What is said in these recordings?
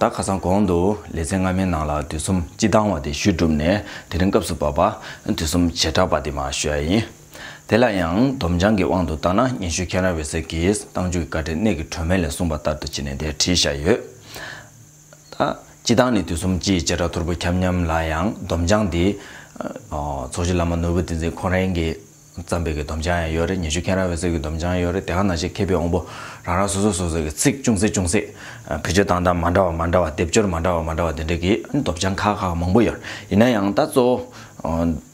ད་ཁ་སང་གོང་དུ་ལེ་ཚན་སྔ་མའི་ནང་ལ་དུས་གསུམ་སྤྱི་བཏང་བ་དེ་ཞུས་གྲུབ་ནས་དེ་རིང་སྐབས་སུ་བབས་པ་དུས་གསུམ་བྱེ་བྲག་པ་དེ་མ་ཞུ་ཡ་ཡིན། དེ་ལ་ཡང་སྡོམ་བྱང་གི་དབང་དུ་བཏང་ན་སྙན་ཞུ་ཁྱེད་རང་འོད་ཟེར་གྱིས་བཏང་འཇུག་གི་བཀའ་ཁྲིད་གནད་ཀྱི་གྲོས་མེད་ལས་གསུངས་པ་ལྟར་དུ་བྱས་ནས་དེ་བྲིས་བཞག་ཡོད། སྤྱི་བཏང་ནས་དུས་གསུམ་སྤྱིའི་བྱེ་བྲག་ཐོར་བུ་ཁྱབ་མཉམ་ལ་ཡང་སྡོམ་བྱང་འདི། ཚོགས་ཀྱི་བླ་མ་ནོར་བུ་ཏིང་འཛིན་ཁོང་རང་གིས་བརྩམས་པའི་གི་སྡོམ་བྱང་ཡང་ཡོད་རེད་ཉི་ཤུ་མཁན་ར་བའི་གསེར་གྱི་སྡོམ་བྱང་ཡོད་རེད་དེ་ག་ནང་བཞིན་མཁས་པའི་དབང་པོ་རང་རང་སོ་སོས་སོ་སོའི་གི་ཚིག་ཅུང་ཟད་ཅུང་ཟད། བེད་སྤྱོད་སྟངས་སྟངས་མ་འདྲ་བ་མ་འདྲ་བ་སྡེབ་སྦྱོར་མ་འདྲ་བ་མ་འདྲ་བ་དེ་འདྲའི་གི་སྡོམ་བྱང་ཁག་ཁག་མང་པོ་ཡོད་རེད་ཡིན་ན་ཡང་ད་གཙོ་བོ།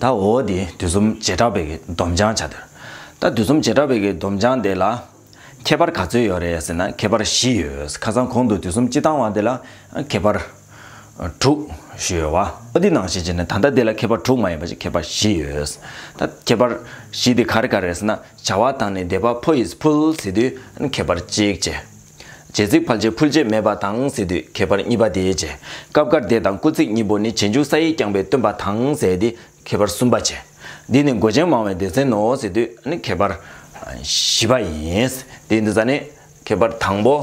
ད་འོ་དེ་དུས་གསུམ་བྱེ་བྲག་པའི་སྡོམ་བྱང་བྱ་དེར། ད་དུས་གསུམ་བྱེ་བྲག་པའི་སྡོམ་བྱང་དེ་ལ། ཁྱད་པར་ག་ཚོད་ཡོད་རེད་ཟེར་ན་ཁྱད་པར་བཞི་ཡོད་ཁ་སང་གོང་དུ་དུས་གསུམ་སྤྱི་དང་བ་དེ་ལ་ཁྱད་པར། དྲུག། ཞུས་ཡོད། འོ་དེ་ནང་བཞིན་བྱས་ན་ད་ལྟ་དེ་ལ་ཁྱད་པར་དྲུག་མ་ཡིན་པ་ཞིག་ཁྱད་པར་བཞི་ཡོད། ད་ཁྱད་པར་བཞི་དེ་ག་རེ་ག་རེ་རེད་ཟེར་ན་བྱ་བ་དང་ནི་བཟླས་པ་ཕོ་ཡིས་ཕུལ་ཟེར་དུས་ཁྱད་པར་གཅིག་བྱས། རྗེས་གཟིགས་ཕལ་ཆེར་ཕུལ་རྗེས་མེད་པ་དང་ཟེར་དུས་ཁྱད་པར་གཉིས་པ་དེའི་རྗེས་སྐབས་སྐར་འདས་དང་སྐུ་ཚིགས་གཉིས་པོ་ནི་རྗེས་འཇུག་ས་ཡིས་བསྐྱངས་པའི་སྟོན་པ་དང་ཟེར་ཏེ་ཁྱད་པར་གསུམ་པ་བྱེད། འདི་ནི་མགོ་ཅན་མང་བའི་སྡེ་ཚན་ནོ་ཟེར་དུས་ནི་ཁྱད་པར་བཞི་པ་ཡིན། དེའི་འདུ་ས་ནི་ཁྱད་པར་དང་པོ།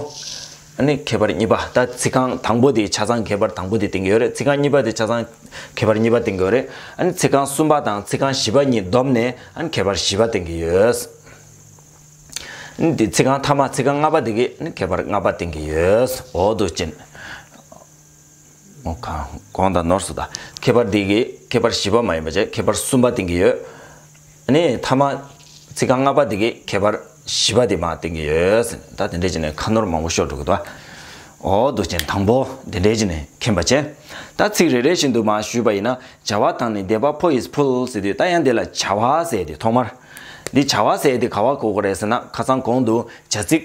ནི་ཁྱད་པར་གཉིས་པ་ད་ཚིག་རྐང་དང་པོ་དེའི་ཆ་ཚང་ཁྱད་པར་དང་པོ་དེའི་སྟེང་གི་ཡོད་རེད་ཚིག་རྐང་གཉིས་པ་དེའི་ཆ་ཚང་ཁྱད་པར་གཉིས་པ་སྟེང་གི་ཡོད་རེད། ཚིག་རྐང་གསུམ་པ་དང་ཚིག་རྐང་བཞི་པ་གཉིས་བསྡོམས་ནས་ཁྱད་པར་བཞི་པ་སྟེང་གི་ཡོད། འདི་ཚིག་རྐང་ཐ་མ་ཚིག་རྐང་ལྔ་པ་འདི་གི་ནི་ཁྱད་པར་ལྔ་པ་སྟེང་གི་ཡོད་འོག་ཏུ་སྤྱི། གོང་དང་ནོར་སོགས་དང། ཁྱད་པར་འདི་གི་ཁྱད་པར་བཞི་པ་མ་ཡིན་པ་བཅས་ཁྱད་པར་གསུམ་པ་སྟེང་གི་ཡོད། ནི་ཐ་མ་ཚིག་རྐང་ལྔ་པ་འདི་གི་ཁྱད་པར་བཞི་པ་དེ་མ་སྟེང་གི་ཡོད། ད་དེ་འདྲའི་སྤྱི་ནི་ཁ་ནོར་མང་པོ་ཤོར་འགྲོ་གི་འདུག་ཨ། འོག་ཏུ་སྤྱི་དང་པོ་འདི་འདྲའི་སྤྱི་ནི་མཁྱེན་པ་བཅས། ད་ཚིག་རེ་རེ་བཞིན་དུ་མ་ཞུས་པ་ཡིན་ན་བྱ་བ་དང་ནི་བཟླས་པ་ཕོ་ཡིས་ཕུལ་ཟེར་དུས་ད་ཡང་འདི་ལ་བྱ་བ་ཟེར་ཏེ་ཐོག་མར། འདི་བྱ་བ་ཟད་དེ་ག་བ་གོ་གོ་རེད་ཟེར་ན་ཁ་ཚང་གོང་དུ་བྱ་ཚིག།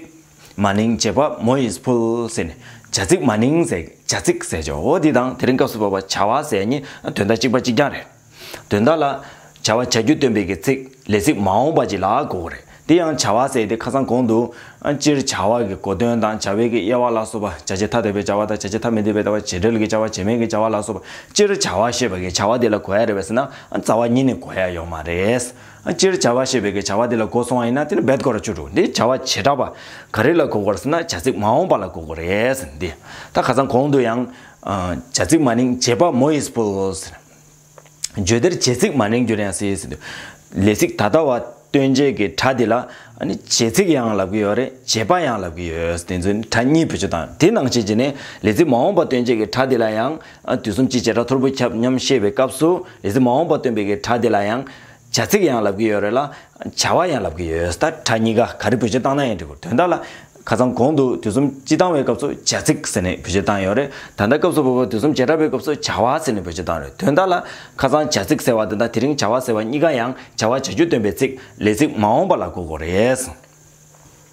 མ་ནིང་བྱེད་པ་མོ་ཡིས་ཕུལ་ཟེར་ནས་བྱ་ཚིག་མ་ནིང་ཟེར་བྱ་ཚིག་ཟེར་ཆོག་གོ་འདི་དང་དེ་རིང་སྐབས་སུ་བབ་པ་བྱ་བ་ཟད་གཉིས་དོན་དག་གཅིག་པ་གཅིག་རྐྱང་རེད། དོན་དག་ལ། བྱ་བ་བྱ་རྒྱུ་སྟོན་པའི་གི་ཚིག་ལས་ཚིག་མ་འོངས་པ་གཅིག་ལ་གོ་གོ་རེད་འདི་ཡང་བྱ་བ་ཟད་དེ་ཁ་ཚང་གོང་དུ་སྤྱིར་བྱ་བ་གི་གོ་དོན་དང་བྱ་བའི་གི་དབྱེ་བ་ལ་སོགས་པ་བྱ་བྱེད་ཐ་དད་པའི་བྱ་བ་དང་བྱ་བྱེད་ཐ་མི་དད་པའི་བྱ་བ་བྱེད་འབྲེལ་གྱི་བྱ་བ་བྱེད་མིན་གྱི་བྱ་བ་ལ་སོགས་པ་སྤྱིར་བྱ་བ་ཤེས་པ་གིས་བྱ་བ་དེ་ལ་གོ་ཡ་རེད་པས་ན་རྩ་བ་ཉིད་ནས་གོ་ཡ་ཡོག་མ་རེད། སྤྱིར་བྱ་བ་ཤེས་པའི་གིས་བྱ་བ་དེ་ལ་གོ་སོང་བ་ཡིན་ན་དེ་ནི་འབད་དགོས་ར་བཅུ་དྲུག་འདི་བྱ་བ་བྱེ་བྲག་པ་ག་རེ་ལ་གོ་དགོས་ར་ཟེར་ན་བྱ་ཚིག་མ་འོངས་པ་ལ་གོ་དགོས་རེད་འདི་ད་ག་ཚང་གོང་དུ་ཡང། བྱ་ཚིག་མ་ནིང་བྱེད་པ་མོ་ཨིས་བུལ། བརྗོད་བདེར་བྱེད་ཚིག་མ་ནིང་རྒྱུར་ཡང་སྲིད་ཟེར། ལས་ཚིག་ད་ལྟ་བ་སྟོན་བྱེད་ཀྱི་སྒྲ་འདི་ལ། བྱེད་ཚིག་ཡང་ལབ་ཀྱི་ཡོད་རེད་བྱེད་པ་ཡང་ལབ་ཀྱི་ཡོད། དེ་ཚོ་ནི་སྒྲ་གཉིས་བོད་སྤྱི་དང་དེ་ནང་བྱེད་ཀྱི་ནི། ལས་ཚིག་མ་འོངས་པ་སྟོན་བྱེད་ཀྱི་སྒྲ་འདི་ལ་ཡང། དུས་གསུམ་སྤྱི་བྱེ་བྲག་ཐོར་བུ་ཁྱབ་སྙམ་ཤེས་པའི་སྐབས་སུ། ལས་ཚིག་མ་འོངས་པ་སྟོན་པའི་ཀྱི་སྒྲ་འདི་ལ་ཡང། བྱ་ཚིག་ཡང་ལབ་ཀྱི་ཡོད་རེད་ལ། བྱ་བ་ཡང་ལབ་ཀྱི་ཡོད་ད་ཕྲ་གཉིས་ཀ་ག་རེ་བོད་སྤྱིར་བཏང་ན་ཡང་འགྲིག་གོ་དོན་དག་ལ། ཁ་སང་གོང་དུ་དུས་གསུམ་སྤྱི་བཏང་བའི་སྐབས་སུ་བྱ་ཚིག་ཟེར་ནས་བོད་སྤྱིར་བཏང་ཡོད་རེད་ད་ལྟ་སྐབས་སུ་བབས་པ་དུས་གསུམ་བྱེ་བྲག་པའི་སྐབས་སུ་བྱ་བ་ཟེར་ནས་བོད་སྤྱིར་བཏང་རེད་དོན་དག་ལ། ཁ་སང་བྱ་ཚིག་ཟེར་བ་དེ་དང་དེ་རིང་བྱ་བ་ཟེར་བ་གཉིས་ཀ་ཡང་བྱ་བ་བྱ་རྒྱུ་སྟོན་པའི་ཚིག་ལས་ཚིག་མ་འོངས་པ་ལ་གོ་གོ་རེད།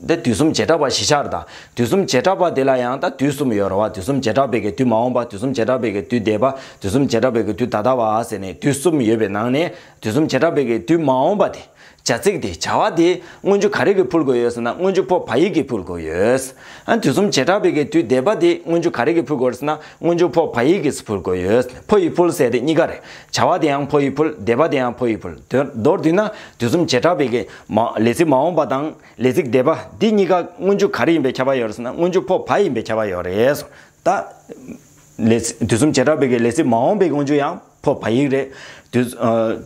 འདི་དུས་གསུམ་བྱེ་བྲག་པ་བཞི་ཆར་དང། དུས་གསུམ་བྱེ་བྲག་པ་དེ་ལ་ཡང་ད་དུས་གསུམ་ཡོད་ར་བ་དུས་གསུམ་བྱེ་བྲག་པའི་གི་དུས་མ་འོངས་པ་དུས་གསུམ་བྱེ་བྲག་པའི་གི་དུས་འདས་པ་དུས་གསུམ་བྱེ་བྲག་པའི་གི་དུས་ད་ལྟ་བ་ཟེར་ནས་དུས་གསུམ་ཡོད་པའི་ནང་ནས་དུས་གསུམ་བྱེ་བྲག་པའི་གི་དུས་མ་འོངས་པ་དེ། བྱ་ཚིག་དེ་བྱ་བ་དེ་སྔོན་འཇུག་ག་རེ་གི་འཕུལ་དགོས་ཡོད་ཟེར་ན་སྔོན་འཇུག་པོ་བ་ཡིག་གི་འཕུལ་དགོས་ཡོད། ཨ་དུས་གསུམ་བྱེ་བྲག་པའི་གི་དུས་འདས་པ་དེ་སྔོན་འཇུག་ག་རེ་གི་འཕུལ་དགོས་ར་ཟེར་ན་སྔོན་འཇུག་པོ་བ་ཡིག་གིས་འཕུལ་དགོས་ཡོད་ཕོ་ཡིག་འཕུལ་ཟེར་དེ་གཉིས་ཀ་རེད། བྱ་བ་དེ་ཡང་ཕོ་ཡིག་འཕུལ་འདས་པ་དེ་ཡང་ཕོ་ཡིག་འཕུལ་དོན་མདོར་བསྡུས་ན་དུས་གསུམ་བྱེ་བྲག་པའི་གི། མ། ལས་ཚིག་མ་འོངས་པ་དང་ལས་ཚིག་འདས་པ་འདི་གཉིས་ཀ་སྔོན་འཇུག་ག་རེ་ཡིན་པའི་ཁྱབ་པ་ཡོད་རེད་ཟེར་ན་སྔོན་འཇུག་འཕོ་བ་ཡིན་པའི་ཁྱབ་པ་ཡོད་རེད་ཟེར། ད། ལས། དུས་གསུམ་བྱེ་བྲག་པའི་གི་ལས་ཚིག་མ་འོངས་པའི་སྔོན་འཇུག་ཡང་འཕོ་བ་ཡིག་རེད། དུས།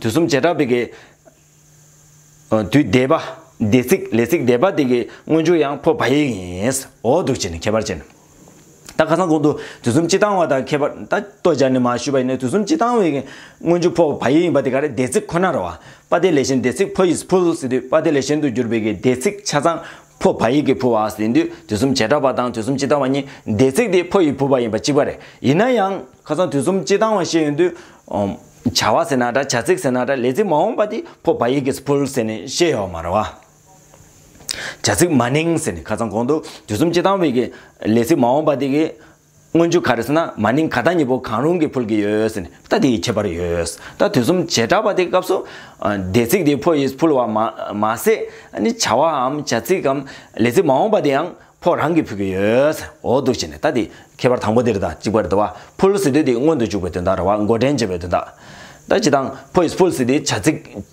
དུས་གསུམ་བྱེ་བྲག་པའི་གི། དུས་འདས་པ། འདས་ཚིག་ལས་ཚིག་འདས་པ་དེ་གི་སྔོན་འཇུག་ཡང་འཕོ་བ་ཡིག་ཡིན། འོ་འདུག་ཅེ་ནས་ཁྱད་པར་ཅན། ད་ཁ་སང་གོང་དུ་དུས་གསུམ་སྤྱི་དང་བ་དང་ཁྱད་པར་ད་ལྟོ་སྦྱར་ནས་མ་ཞུས་པ་ཡིན་ན་དུས་གསུམ་སྤྱི་དང་བའི་སྔོན་འཇུག་ཕོག་བ་ཡིན་པ་དེ་ག་རེ་སྡེ་ཚིག་ཁོ་ནར་བ་པ་དེ་ལས་གཞན་སྡེ་ཚིག་ཕོ་ཡིས་ཕུལ་ཟེར་དུས་པ་དེ་ལས་གཞན་དུ་གྱུར་པའི་གི་སྡེ་ཚིག་ཆ་ཚང་ཕོ་བ་ཡིག་གིས་ཕུལ་བ་ཟིན་དུས་དུས་གསུམ་བྱེ་བྲག་པ་དང་དུས་གསུམ་སྤྱི་དང་བ་གཉིས་སྡེ་ཚིག་དེ་ཕོ་ཡིས་ཕུལ་བ་ཡིན་པ་གཅིག་པ་རེད་ཡིན་ན་ཡང་ཁ་སང་དུས་གསུམ་སྤྱི་དང་བ་ཞེས་ཡོང་དུས། བྱ་བ་ཟེར་ན་འདྲ་བྱ་ཚིག་ཟེར་ན་འདྲ་ལས་ཚིག་མ་འོངས་པ་དེ་ཕོ་བ་ཡིག་གིས་ཕུལ་ཟེར་ནས་བཤད་ཡོད་མ་རེད་བ། བྱ་ཚིག་མ་ནིང་ཟེར་ནས་ཁ་ཚང་གོང་དུ་དུས་གསུམ་སྤྱི་དང་བའི་གི་ལས་ཚིག་མ་འོངས་པ་དེ་གི་སྔོན་འཇུག་ག་རེ་ཟེར་ན་མ་ནིང་ག་ད་གཉིས་པོ་གང་རུང་གི་ཕུལ་གི་ཡོད་ཟེར་ནས་ད་དེ་ཡི་ཁྱད་པར་ཡོད། ད་དུས་གསུམ་བྱེ་བྲག་པ་དེ་སྐབས་སུ་སྡེ་ཚིག་དེ་ཕོ་ཡིས་ཕུལ་བ་མ་མ་ཟད་ནི་བྱ་བའམ་བྱ་ཚིག་གམ་ལས་ཚིག་མ་འོངས་པ་དེ་ཡང་ཕོ་རང་གིས་ཕུལ་གི་ཡོད། འོ་འདུག་བྱས་ནས་ད་དེ་ཁྱད་པར་དང་པོ་དེར་ད་གཅིག་པར་དུ་བ་ཕུལ་ཟེར་དུས་དེ་སྔོན་དུ་འཇུག་པའི་དོན་དང་ར་བ་མགོ་འདྲེན་བྱེད་པའི་དོན་དང། ད་ཅི་དང་ཕོ་ཡིས་ཕུལ་ཟེར་དུས་བྱ་ཚིག།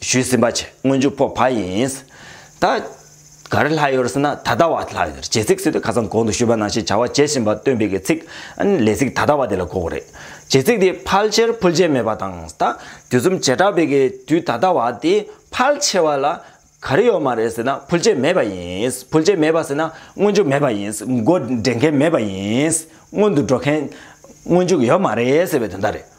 ཞུས་ཟིན་པ་ཆེ་སྔོན་འཇུག་ཕོག་བ་ཡིན། ད་ག་རེ་ལྷག་ཡོད་ཟེར་ན་ད་ལྟ་བ་ལྷག་ཡོད་རེད་ཇེ་ཚིག་སུས་དེ་ཁ་སང་གོང་དུ་ཞུས་པ་ནང་བཞིན་བྱ་བ་བྱེད་བཞིན་པ་སྟོན་པའི་གི་ཚིག་ཨཱ་ལས་ཚིག་ད་ལྟ་བ་དེ་ལ་གོ་གི་རེད། ཇེ་ཚིག་དེ་ཕལ་ཆེར་ཕུལ་བྱེད་མེད་པ་དང་ད་དུས་གསུམ་བྱེ་བྲག་པའི་གི་དུས་ད་ལྟ་བ་དེ་ཕལ་ཆེ་བ་ལ་ག་རེ་ཡོད་མ་རེད་ཟེར་ན་ཕུལ་བྱེད་མེད་པ་ཡིན། ཕུལ་བྱེད་མེད་པ་ཟེར་ན་སྔོན་འཇུག་མེད་པ་ཡིན་མགོ་འདྲེན་མཁན་མེད་པ་ཡིན། སྔོན་དུ་འགྲོ་མཁན་སྔོན་འཇུག་ཡོད་མ་རེད་ཟེར་བའི་དོན་དག་རེད།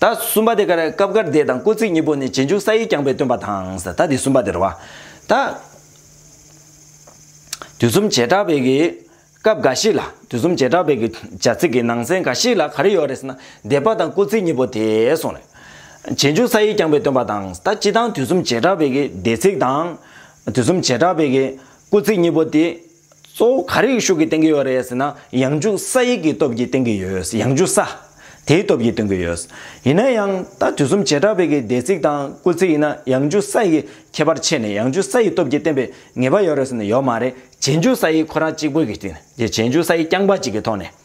ད་གསུམ་པ་དེ་ཀར་སྐབས་ཀར་སྡེ་དང་སྐུ་ཚིགས་གཉིས་པོ་ནི་རྗེས་འཇུག་ས་ཡིག་རྐྱང་པའི་སྟོན་པ་དང། ད་དེ་གསུམ་པ་དེར་བ། ད། དུས་གསུམ་བྱེ་བྲག་པའི་གི། སྐབས་འགའ་ཞིག་ལ་དུས་གསུམ་བྱེ་བྲག་པའི་གི། བྱ་ཚིག་གི་ནང་ཚན་འགའ་ཞིག་ལ་ག་རེ་ཡོད་རེད་ཟེར་ན། སྡེ་པ་དང་སྐུ་ཚིགས་གཉིས་པོ་དེ་སོང་རེད། རྗེས་འཇུག་ས་ཡིག་རྐྱང་པའི་སྟོན་པ་དང། ད་སྤྱི་དང་དུས་གསུམ་བྱེ་བྲག་པའི་གི་སྡེ་ཚིག་དང། དུས་གསུམ་བྱེ་བྲག་པའི་གི། སྐུ་ཚིགས་གཉིས་པོ་དེ། གཙོ་བོ་ག་རེའི་ཤུགས་ཀྱིས་བསྟན་གྱི་ཡོད་རེད་ཟེར་ན་ཡང་འཇུག་ས་ཡིག་གི་སྟོབས་ཀྱིས་བསྟན་གྱི་ཡོད་ཡང་འཇུག་ས། དེའི་སྟོབས་ཀྱིས་སྟོན་གྱི་ཡོད། ཡིན་ན་ཡང་ད་དུས་གསུམ་བྱེ་བྲག་བོད་ཀྱི་སྡེ་ཚིག་དང་སྐུ་ཚིག་ཡིན་ན་ཡང་འཇུག་ས་ཡི་ཁྱད་པར་ཕྱེས་ནས་ཡང་འཇུག་ས་ཡི་སྟོབས་ཀྱིས་བསྟན་པའི་ངེས་པ་ཡོད་རེད་ཟེར་ན་ཡོད་མ་རེད་བྱེས་འཇུག་ས་ཡིག་ཁོ་རང་གཅིག་པོ་གི་སྟེང་ནས་བྱེས་འཇུག་ས་ཡིག་རྐྱང་པ་གཅིག་གི་ཐོག་ནས།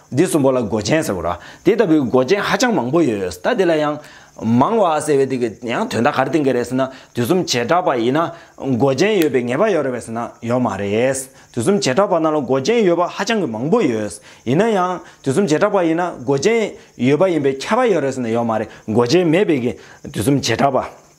འདི་གསུམ་པོ་ལ་མགོ་ཅན་ཟེར་རོ། དེ་ལྟ་བུའི་མགོ་ཅན་ཧ་ཅང་མང་པོ་ཡོད། ད་དེ་ལ་ཡང། མང་བ་ཟེར་བའི་དེ་གི་ཡང་དོན་དག་ག་རེ་བསྟན་གི་རེད་ཟེར་ན། དུས་གསུམ་བྱེ་བྲག་པ་ཡིན་ན། མགོ་ཅན་ཡོད་པའི་ངེས་པ་ཡོད་རེད་བས་ཟེར་ན་ཡོད་མ་རེད། དུས་གསུམ་བྱེ་བྲག་པ་རྣམས་ལ་མགོ་ཅན་ཡོད་པ་ཧ་ཅང་གི་མང་པོ་ཡོད། ཡིན་ན་ཡང། དུས་གསུམ་བྱེ་བྲག་པ་ཡིན་ན་མགོ་ཅན། ཡོད་པ་ཡིན་པའི་ཁྱད་པ་ཡོད་རེད་ཟེར་ན་ཡོད་མ་རེད་མགོ་ཅན་མེད་པའི་གི། དུས་གསུམ་བྱེ་བྲག་པ།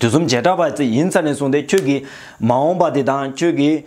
དུས་གསུམ་བྱེ་བྲག་པ་ཙི་ཡིན་ས་ནས་བཟུང་སྟེ་ཁྱོད་ཀྱིས་མ་འོངས་པ་དེ་དང་ཁྱོད་ཀྱི་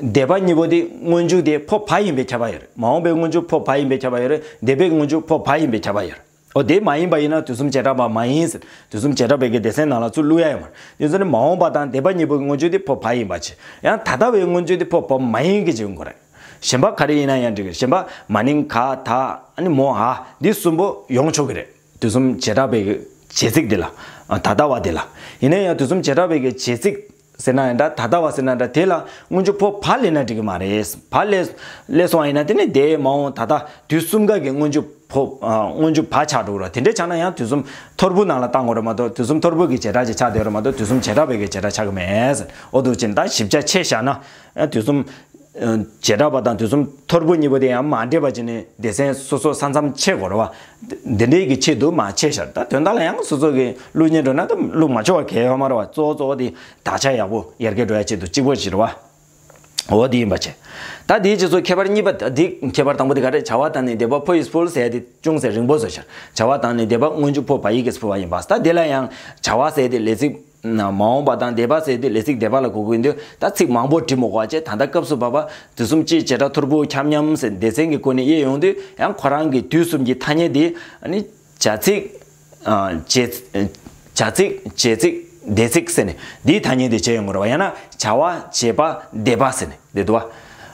འདས་པ་གཉིས་པོ་དེ་སྔོན་འཇུག་དེ་འཕོ་བ་ཡིན་པའི་ཁྱབ་པ་ཡོད་རེད་མ་འོངས་པའི་སྔོན་འཇུག་འཕོ་བ་ཡིན་པའི་ཁྱབ་པ་ཡོད་རེད་འདས་པའི་སྔོན་འཇུག་འཕོ་བ་ཡིན་པའི་ཁྱབ་པ་ཡོད་རེད་འོ་དེ་མ་ཡིན་པ་ཡིན་ན་དུས་གསུམ་བྱེ་བྲག་པ་མ་ཡིན་ཟེར་དུས་གསུམ་བྱེ་བྲག་པའི་གེགས་སྡེ་ཚན་ནང་ལ་ཚུར་བླུག་ཡ་ཡོད་མ་རེད་དེ་ཚོ་ནི་མ་འོངས་པ་དང་འདས་པ་གཉིས་པོའི་སྔོན་འཇུག་དེ་འཕོ་བ་ཡིན་པ་ཆེ་ཡང་ད་ལྟ་བའི་སྔོན་འཇུག་དེ་འཕོ་བ་མ་ཡིན་གྱི་འཇུག་འགོ་རེད་གཞན་པ་ག་རེ་ཡིན་ན་ཡང་འགྲིག་གི་གཞན་པ་མ་ནིང་ག་ད་ཨ་ནི་མོ་ཧ་འདི་གསུམ་པོ་ཡོང་ཆོག་གི་རེད། དུས་གསུམ་བྱེ་བྲག་པའི་བྱེད་ཚིག་འདི་ལ། ད་ལྟ་བ་འདི་ལ། ཡིན་ན་ཡང་དུས་གསུམ་བྱེ་བྲག་པའི་གི་བྱེད་ཚིག། ཟེར་ན་ཡང་འདྲ་ད་ལྟ་བ་ཟེར་ན་འདྲ་དེ་ལ་སྔོན་བྱུང་ཕོ་བ་ལས་ན་འགྲིག་གི་མ་རེད། བ་ལས། ལས་སོང་བ་ཡིན་ན་དེ་ནི་དེ་མ་འོངས་ད་ལྟ་དུས་གསུམ་ག་གི་སྔོན་བྱུང་ཕོ། སྔོན་བྱུང་བ་ཆགས་འགྲོ་གི་རེད་དེ་འདྲ་ཆགས་ན་ཡང་དུས་གསུམ་ཐོར་བུ་ནང་ལ་བཏང་དགོས་རེད་མ་གཏོགས་དུས་གསུམ་ཐོར་བུ་གི་བྱེ་བྲག་ཅིག་ཆགས་བསྡད་རེད་མ་གཏོགས་དུས་གསུམ་བྱེ་བྲག་པའི་གི་བྱེ་བྲག་ཆགས་གི་མེད། འོ་འདུག་ཅི་འདྲ་ཞིབ་ཆ་ཆེ་བཞག་ན། དུས་གསུམ། བྱེ་བྲག་པ་དང་དུས་གསུམ་ཐོར་བུ་གཉིས་པོ་དེ་ཡང་མ་འདྲེས་པ་ཅན་ནི་སྡེ་ཚན་སོ་སོ་ས་མཚམས་ཕྱེད་གོ་རུ་བ། འདི་འདྲེས་ཀྱི་ཆེད་དུ་མ་ཕྱེད་ཤར་ད་དོན་དག་ལ་ཡང་སོ་སོ་གི་ལུགས་གཉིས་འགྲོ་ན་ད་ལུགས་མ་ཕྱོགས་གལ་ཡོད་མ་རུ་བ་གཙོ་བོ་གཙོ་བོ་དེ་དག་ཆ་ཡག་པོ་ཡར་རྒྱས་འགྲོ་ཡ་ཆེད་དུ་གཅིག་པོ་བཞི་རུ་བ། འོ་དེ་ཡིན་པ་བྱས། ད་དེའི་རྗེས་སུ་ཁྱད་པར་གཉིས་པ་ད་དེ་ཁྱད་པར་དང་པོ་དེ་ག་རེ་བྱ་བ་དང་ནི་འདེབས་པ་ཕོ་ཡིས་ཕུལ་ཟས་དེ་ཅུང་ཟད་རིང་པོ་བཟོ་ཤར་བྱ་བ་དང་ནི་འདེབས་པ་སྔོན་འཇུག་ཕོ་བ་ཡིག་གིས་ཕུལ་བ་ཡིན་པ་ད་དེ་ལ་ཡང་བྱ་བ་ཟས་དེ་ལས་ཚིག། མ་འོངས་པ་དང་སྡེ་པ་ཟེར་དུས་ལས་ཚིག་སྡེ་པ་ལ་གོ་གི་འདུག་ད་ཚིག་མང་པོ་བྲིས་མོ་གོ་ཅེས་ད་ལྟ་སྐབས་སུ་བབས་པ། དུས་གསུམ་སྤྱིའི་བྱེ་བྲག་ཐོར་བུ་ཁྱབ་མཉམ་ཟེར་སྡེ་ཚན་གྱི་སྐོར་ནས་དབྱེ་ཡོང་དུས་ཡང་ཁོ་རང་གིས་དུས་གསུམ་གྱི་ཐ་སྙད་འདི། བྱ་ཚིག། བྱ་ཚིག། བྱེད་ཚིག། སྡེ་ཚིག་ཟེར་ནས་འདིའི་ཐ་སྙད་འདི་བྱས་ཡོང་གི་རེད་བ་ཡང་ན་བྱ་བ། བྱེད་པ། སྡེ་པ་ཟེར་ནས་འདི་བསྡུ་བ།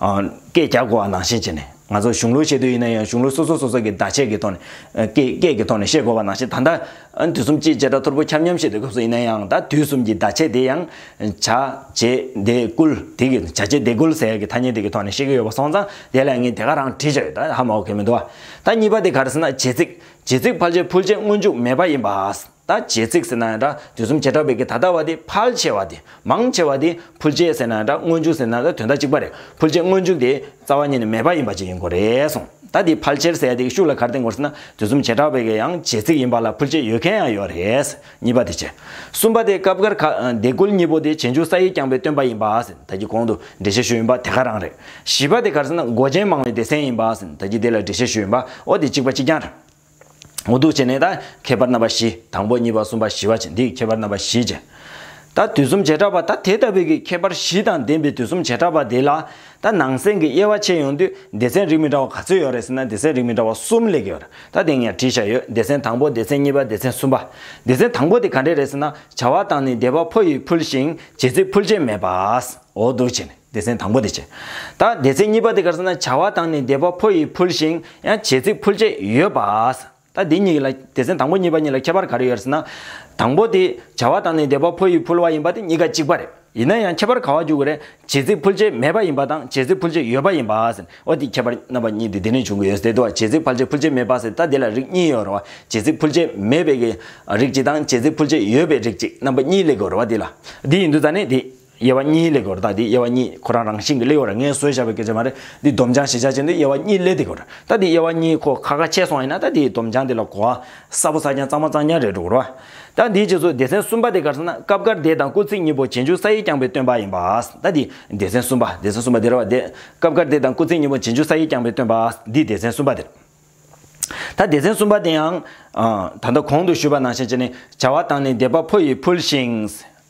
སྐད་རྒྱག་དགོས་བ་ནང་བཞིན་བྱས་ནས་ང་ཚོ་གཞུང་ལུགས་བཤད་དུས་ཡིན་ན་ཡང་གཞུང་ལུགས་སོ་སོ་སོ་སོ་གི་བརྡ་ཆད་ཀྱི་ཐོག་ནས་སྐད་ཀྱི་ཐོག་ནས་བཤད་དགོས་བ་ནང་བཞིན་ད་ལྟ་དུས་གསུམ་སྤྱིའི་བྱེ་བྲག་ཐོར་བུ་ཁྱབ་མཉམ་བཤད་དུས་སྐབས་སུ་ཡིན་ན་ཡང་ད་དུས་གསུམ་གྱི་བརྡ་ཆད་དེ་ཡང་བྱ། བྱེད། འདེད། བསྐུལ། དེ་གི་བྱ་བྱེད་འདེད་བསྐུལ་ཟེར་ཡག་གི་ཐ་སྙད་དེ་གི་ཐོག་ནས་བཤད་ཀྱི་ཡོད་བ་སོང་ཙང་དེ་ལ་ངས་དེ་ག་རང་བྲིས་བཞག་ཡོད་ད་ཧ་མ་འོ་གེ་མི་འདུག་བ། ད་གཉིས་པ་དེ་ག་རེ་ཟེར་ན་བྱེད་ཚིག། བྱེད་ཚིག་ཕར་བྱེད་ཕུར་བྱེད་སྔོན་འཇུག་མེད་པ་ཡིན་པ། ད་བྱེད་ཚིག་ཟེར་ན་ཡང་འདྲ་དུས་གསུམ་བྱེ་བྲག་པའི་གི་ད་ལྟ་བ་དེ་ཕལ་ཆེ་བ་དེ་མང་ཆེ་བ་དེ་ཕུལ་བྱེད་ཟེར་ན་ཡང་འདྲ་སྔོན་འཇུག་ཟེར་ན་ཡང་འདྲ་དོན་དག་གཅིག་པ་རེད་ཕུལ་བྱེད་སྔོན་འཇུག་དེ་རྩ་བ་ཉིད་ནས་མེད་པ་ཡིན་པ་ཅིག་ཡིན་དགོས་རེད་གསུང་ད་དེ་ཕལ་ཆེར་ཟེར་ཡ་དེ་གི་ཤུགས་ལ་གར་བསྟན་དགོས་ཟེར་ན་དུས་གསུམ་བྱེ་བྲག་པའི་གི་ཡང་བྱེད་ཚིག་ཡིན་པ་ལ་ཕུལ་བྱེད་ཡོད་མཁན་ཡང་ཡོད་རེད་གཉིས་པ་དེ་བྱེད། གསུམ་པ་དེ་སྐབས་འགར་ག་འདེ་ཀུལ་གཉིས་པོ་དེ་བྱེད་འཇུག་ས་ཡིག་རྐྱང་པའི་སྟོན་པ་ཡིན་པ་ཟེར་ད་ཀྱི་གོང་དུ་འགྲེལ་བཤད་ཞུས་ཡིན་པ་དེ་ག་རང་རེད་བཞི་པ་དེ་གར་ཟེར་ན་མགོ་ཅན་མང་བའི་སྡེ་ཚན་ཡིན་པ་ཟེར་ད་ཀྱི་དེ་ལ་འགྲེལ་བཤད་ཞུས་ཡིན་པ་འོ་དེ་གཅིག་པ་གཅིག་རྐྱང་རེད། འོ་འདུག་བྱས་ནས་ད་ཁྱད་པར་རྣམ་པ་བཞི་དང་པོ་གཉིས་པ་གསུམ་པ་བཞི་བ་བཅས་འདིའི་ཁྱད་པར་རྣམ་པ་བཞི་ཅན། ད་དུས་གསུམ་བྱེ་བྲག་པ་ད་དེ་ལྟ་བུའི་གི་ཁྱད་པར་བཞི་དང་ལྡན་པའི་དུས་གསུམ་བྱེ་བྲག་པ་དེ་ལ་ད་ནང་གསེང་གི་དབྱེ་བ་ཕྱེ་ཡོང་དུས་སྡེ་ཚན་རིགས་མི་འདྲ་བ་ག་ཚོད་ཡོད་རེད་ཟེར་ན་སྡེ་ཚན་རིགས་མི་འདྲ་བ་གསུམ་ལེགས་ཡོད་ད་དེ་ངས་བྲིས་བཞག་ཡོད་སྡེ་ཚན་དང་པོ་སྡེ་ཚན་གཉིས་པ་སྡེ་ཚན་གསུམ་པ། སྡེ་ཚན་དང་པོ་དེ་ག་འདྲས་རེད་ཟེར་ན་བྱ་བ་དང་ནི་བདེ་བ་ཕོ་ཡིས་ཕུལ་ཞིང་བྱེད་ཚིག་ཕུལ་བྱེད་མེད་པ། འོ་འདུག་བྱས་ནས། སྡེ་ཚན་དང་པོ་དེ་བྱེད། ད་སྡེ་ཚན་གཉིས་པ་དེ་གར་སོང་ན་བྱ་བ་དང་ནི་སྡེ་པ་ཕོ་ཡིས་ཕུལ་ཞིང་ཡང་བྱེད་ཚིག་ཕུལ་བཅས་ཡོད་པ། ད་འདི་གཉིས་ལ་སྡེ་ཚན་དང་པོ་གཉིས་པ་གཉིས་ལ་ཁྱད་པར་ག་རེ་ཡོད་ཟེར་ན། དང་པོ་དེ་བྱ་བ་དང་ནི་སྡེ་པ་ཕོ་ཡིས་ཕུལ་བ་ཡིན་པ་དེ་གཉིས་ཀ་གཅིག་པ་རེད། ཡིན་ན་ཡང་ཁྱད་པར་ག་བ་འཇུག་གི་རེད་བྱེད་ཚིག་ཕུལ་བཅས་མེད་པ་ཡིན་པ་དང་བྱེད་ཚིག་ཕུལ་བཅས་ཡོད་པ་ཡིན་པ། ཨོ་དེ་ཁྱད་པར་རྣམ་པ་གཉིས་དེ་དེ་ནས་བྱུང་གི་ཡོད་ཟེར་དུས་བྱེད་ཚིག་ཕལ་ཆེར་ཕུལ་བཅས་མེད་པ་ཟེར་ད་དེ་ལ་རིགས་གཉིས་ཡོད་རེད་བ་བྱེད་ཚིག་ཕུལ་བཅས་མེད་པའི་རིགས་གཅིག་དང་བྱེད་ཚིག་ཕུལ་བཅས་ཡོད་པའི་རིགས་གཅིག་རྣམ་པ་གཉིས་ལས་དགོས་རེད་བ་དེ་ལ་དེ་ཡིན་དུས་ད་ནི་དེ། དབྱེ་བ་གཉིས་ལས་གོ་རྟགས་འདི་དབྱེ་བ་གཉིས་ཁོ་རང་རང་བཞིན་གྱི་ལེའོ་ར་ངའི་སྲོལ་བཞག་པའི་སྐད་ཆ་མ་རེད་འདི་སྡོམ་བྱང་གཞི་ཆ་ཅན་དུ་དབྱེ་བ་གཉིས་ལས་འདི་གོ་རྟགས་འདི་དབྱེ་བ་གཉིས་ཁོ་ཁ་ཁ་ཆད་སོང་ཡིན་ན་རྟགས་འདིའི་སྡོམ་བྱང་འདི་ལ་གོ་བ་གསར་བོ་གསར་རྐྱང་གཙང་མ་གཙང་རྐྱང་རེད་འགྲོ་གོ་རོ། རྟགས་འདིའི་རྗེས་སུ་སྡེ་ཚན་གསུམ་པ་དེ་གར་སོང་ན་སྐབས་འགར་སྡེ་དང་སྐུ་ཚིགས་གཉིས་པོ་བྱེ་འཇུག་ས་ཡིག་རྐྱང་པའི་སྟོན་པ་ཡིན་པ། རྟགས་འདི་སྡེ་ཚན་གསུམ་པ་སྡེ་ཚན་གསུམ་པ་དེ་རེད་བ་དེ། སྐབས་འགར་སྡེ་དང་སྐུ་ཚིགས་གཉིས་པོ་བྱེ་འཇུག་ས་ཡིག་རྐྱང་པའི་སྟོན་པ་འདི་སྡེ་ཚན་གསུམ་པ་དེ་རེད། ད་སྡེ་ཚན་གསུམ་པ་དེ་ཡང། ད་ལྟ་གོང་དུ་ཞུས་པ་ནང་བཞིན་བྱས་ནས་བྱ་བ་བཏང་ནས་སྡེ་པ་ཕོ་ཡིས་ཕུལ་ཞིང།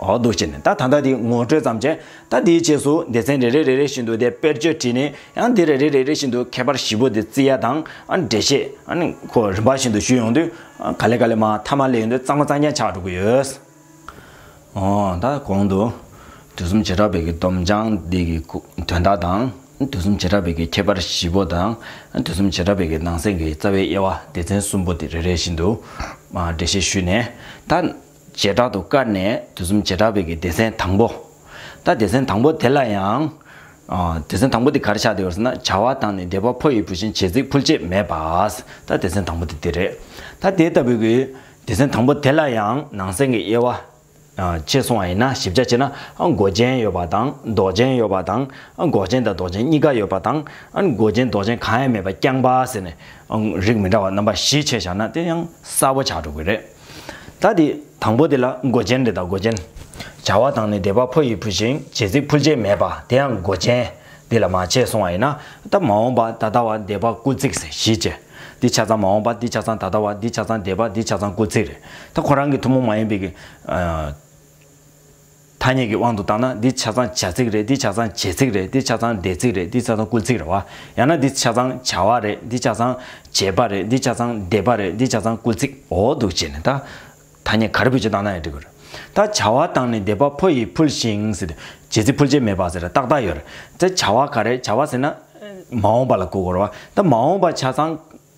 འོག་ཏུ་བྱས་ནས་ད་ད་ད་དེ་ངོ་སྤྲོད་ཙམ་བྱས། ད་དེའི་རྗེས་སུ་སྡེ་ཚན་རེ་རེ་རེ་རེ་བཞིན་དུ་དེ་དཔེར་བརྗོད་བྲིས་ནས་ཡང་དེ་རེ་རེ་རེ་རེ་བཞིན་དུ་མཁས་པར་བཞི་པོ་དེ་བརྩི་ཡ་དང་འགྲེལ་བཤད་ཁོ་རིམ་པ་བཞིན་དུ་ཞུས་ཡོང་དུས་ག་ལེ་ག་ལེ་མ་མཐའ་མ་ལས་ཡོང་དུས་གཙང་མ་གཙང་རྐྱང་ཆགས་འགྲོ་གི་ཡོད། འོ་ད་གོང་དུ། དུས་གསུམ་བྱེ་བྲག་པའི་གི་སྡོམ་སྦྱང་འདི་གི་དོན་དག་དང། དུས་གསུམ་བྱེ་བྲག་པའི་གི་ཁྱད་པར་བཞི་པོ་དང། དུས་གསུམ་བྱེ་བྲག་པའི་གི་ནང་གསེས་ཀྱི་རྩ་བའི་དབྱེ་བ་སྡེ་ཚན་གསུམ་པོ་དེ་རེ་རེ་བཞིན་དུ་འགྲེལ་བཤད་ཞུས་ནས་ད། བྱེ་བྲག་ཏུ་བཀར་ནས་དུས་གསུམ་བྱེ་བྲག་བོད་ཀྱི་སྡེ་ཚན་དང་པོ། ད་སྡེ་ཚན་དང་པོ་དེ་ལ་ཡང། སྡེ་ཚན་དང་པོ་དེ་གར་ཆགས་འདི་བར་ཟེར་ན་བྱ་བ་དང་ནི་སྡེ་པ་ཕོ་ཡི་བུ་བཞིན་བྱེད་ཚིག་ཕུལ་བྱེད་མེད་པ། ད་སྡེ་ཚན་དང་པོ་དེ་དེ་རེད། ད་དེ་ལྟ་བུའི། སྡེ་ཚན་དང་པོ་དེ་ལ་ཡང་ནང་གསེས་ཀྱི་དབྱེ་བ། ཕྱེས་སོང་བ་ཡིན་ན་ཞིབ་ཆ་ཕྱེས་ན་མགོ་ཅན་ཡོད་པ་དང་མདོག་ཅན་ཡོད་པ་དང། འགོག་ཅན་དང་མདོག་ཅན་གཉིས་ཀ་ཡོད་པ་དང། མགོ་ཅན་མདོག་ཅན་གང་ཡང་མེད་པ་རྐྱང་པ་ཟེར་ནས། རིགས་མི་འདྲ་བ་རྣམ་པ་བཞི་ཕྱེས་བཞག་ན་དེ་ཡང་གསལ་བོ་ཆགས་འགྲོ་གི་རེད། ད་དེ་དང་པོ་དེ་ལ་མགོ་ཅན་རེ་དང་མགོ་ཅན། བྱ་བ་དང་ནི་སྡེ་པ་ཕོ་ཡིས་ཕུལ་ཞིང་བྱེད་རྩིས་ཕུལ་བྱེད་མེད་པ་དེ་ཡང་མགོ་ཅན། འདི་ལ་མ་བྱས་གསུང་བ་ཡིན་ན་ད་མ་འོངས་པ་ད་ལྟ་བ་སྡེ་པ་སྐུ་ཚིགས་བཞི་ཅེས། འདི་ཆ་ཚང་མ་འོངས་པ་འདི་ཆ་ཚང་ད་ལྟ་བ་འདི་ཆ་ཚང་སྡེ་པ་འདི་ཆ་ཚང་སྐུ་ཚིགས་རེད་ད་ཁོ་རང་གི་ཐུན་མོང་མ་ཡིན་པའི། ཐ་སྙད་ཀྱི་དབང་དུ་བཏང་ན་འདི་ཆ་ཚང་བྱ་ཚིག་རེད་འདི་ཆ་ཚང་བྱེད་ཚིག་རེད་འདི་ཆ་ཚང་བསྡད་ཚིག་རེད་འདི་ཆ་ཚང་བསྐུར་ཚིག་རེད་བ། ཡང་ན་འདི་ཆ་ཚང་བྱ་བ་རེད་འདི་ཆ་ཚང་བྱེད་པ་རེད་འདི་ཆ་ཚང་བསྡད་པ་རེད་འདི་ཆ་ཚང་བསྐུར་ཚིག་འོ་འདུག་ཅེས་ནས་ད། ཐ་སྙད་ག་རེ་བུད་ཅེས་བཏང་ན་ཡང་འགྲིག་གི་རེད། ད་བྱ་བ་བཏང་ནས་བསྡད་པ་ཕོ་ཡིས་ཕུལ་ཞིང་ཟེར་བྱེད་ཚིག་ཕུལ་བྱེད་མེད་པ་ཟེར་ཏག་ཏག་ཡོད་རེད། ད་བྱ་བ་ག་རེད་བྱ་བ་ཟེར་ན། མ་འོངས་པ་ལ་བསྐུར་དགོས་རེད་བ། ད་མ་འོངས་པ་ཆ་ཚང།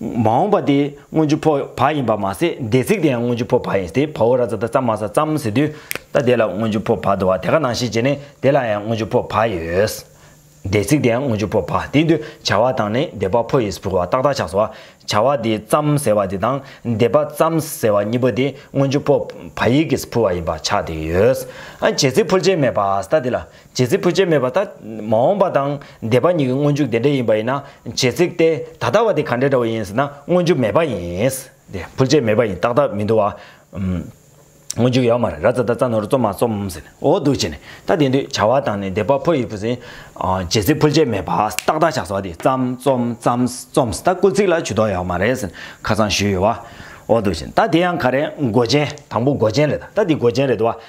མ་འོངས་པ་དེ་སྔོན་ཆུ་ཕོ་བ་ཡིན་པར་མ་ཟད་སྡེ་ཚིག་དེ་ཡང་སྔོན་ཆུ་ཕོ་བ་ཡིན་ཏེ་བའོ་ར་ཙ་ད་ཙམ་མ་ས་ཙམ་ཟེར་དུས་ད་དེ་ལ་སྔོན་ཆུ་ཕོ་བ་དུ་བ་དེ་ག་ནང་ཞིག་བྱས་ནས་དེ་ལ་ཡང་སྔོན་ཆུ་ཕོ་བ་ཡོད། སྡེ་ཚིག་དེ་ཡང་སྔོན་ཆུ་ཕོ་བ་དེ་དུ་བྱ་བ་དང་ནི་སྡེ་བ་ཕོ་ཡིས་བུར་བ་ཏག་ཏག་ཆགས་སོ། བྱ་བ་དེ་ཙམ་ཟེར་བ་དེ་དང་སྡེ་བ་ཙམ་ཟེར་བ་གཉིས་པོ་དེ་སྔོན་ཆུ་ཕོ་བ་ཡིག་གིས་བུར་བ་ཡིན་པར་ཆགས་ཏེ་ཡོད། བྱེད་ཚིག་འཕུར་བྱེད་མེད་པར་ད་དེ་ལ་རྗེ་རྩེ་ཕུད་བྱེད་མེད་པ་ད། མ་འོངས་པ་དང་འདས་པ་གཉིས་ཀྱི་སྔོན་འཇུག་དེ་འདྲ་ཡིན་པ་ཡིན་ན་རྗེ་ཚིག་སྟེ་ད་ལྟ་བ་དེ་ག་འདྲ་འདྲ་བོ་ཡིན་ཟེར་ན་སྔོན་འཇུག་མེད་པ་ཡིན། དེ་ཕུད་བྱེད་མེད་པ་ཡིན་ཏག་ཏག་མི་འདུག་བ། སྔོན་འཇུག་ཡོད་མ་རེད་ར་རྩ་ད་རྩ་ནོར་རྩོམ་མ་རྩོམ་ཟེར་ནས་འོ་འདུག་བྱས་ནས་ད་དེ་དུས་བྱ་བ་དང་ནི་འདས་པ་ཕོ་ཡི་བུ་ཟིན། རྗེ་རྩེ་ཕུད་བྱེད་མེད་པ་ཏག་ཏག་ཆགས་སོ་བ་དེ་རྩམ་རྩོམ་རྩམ་རྩོམ་ཟེར་ད་སྐུལ་ཚིག་ལ་ཇུས་གཏོགས་ཡོད་མ་རེད་ཟེར་ནས་ཁ་ཚང་ཞུས་ཡོད་བ། འོ་འདུག་བྱས་ནས་ད་དེ་ཡང་ག་རེད་མགོ་ཅན་དང་པོ་མགོ་ཅན་རེད་ད་ད་འདི་མགོ་ཅན་རེད་བ།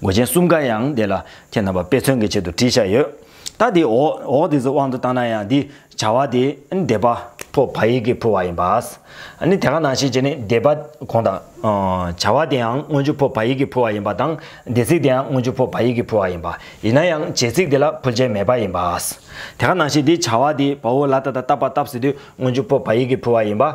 མགོ་ཅན་གསུམ་ཀ་ཡང་དེ་ལ་ཁྱེད་རྣམ་པ་དཔེ་མཚོན་གྱི་ཆེད་དུ་བྲིས་བཞག་ཡོད། ད་དེ་འོག་འོག་དེ་ཚོའི་དབང་དུ་བཏང་ན་ཡང་འདི་བྱ་བ་དེ་འདས་པ། ཕོ་བ་ཡིག་གི་ཕོ་བ་ཡིན་པ། ནི་དེ་ག་ནང་བཞིན་བྱས་ནས་འདས་པ་གོང་དང། བྱ་བ་དེའང་སྔོན་བྱུང་ཕོ་བ་ཡིག་གི་ཕོ་བ་ཡིན་པ་དང་འདས་ཚིག་དེའང་སྔོན་བྱུང་ཕོ་བ་ཡིག་གི་ཕོ་བ་ཡིན་པ། ཡིན་ན་ཡང་བྱས་ཚིག་དེ་ལ་ཕུལ་བྱེད་མེད་པ་ཡིན་པ། དེ་ག་ནང་བཞིན་འདི་བྱ་བ་དེ་བ་བོ་ལ་ད་ད་ལྟ་བ་བཏབ་ཟེར་དུས་སྔོན་བྱུང་ཕོ་བ་ཡིག་གི་ཕུལ་བ་ཡིན་པ།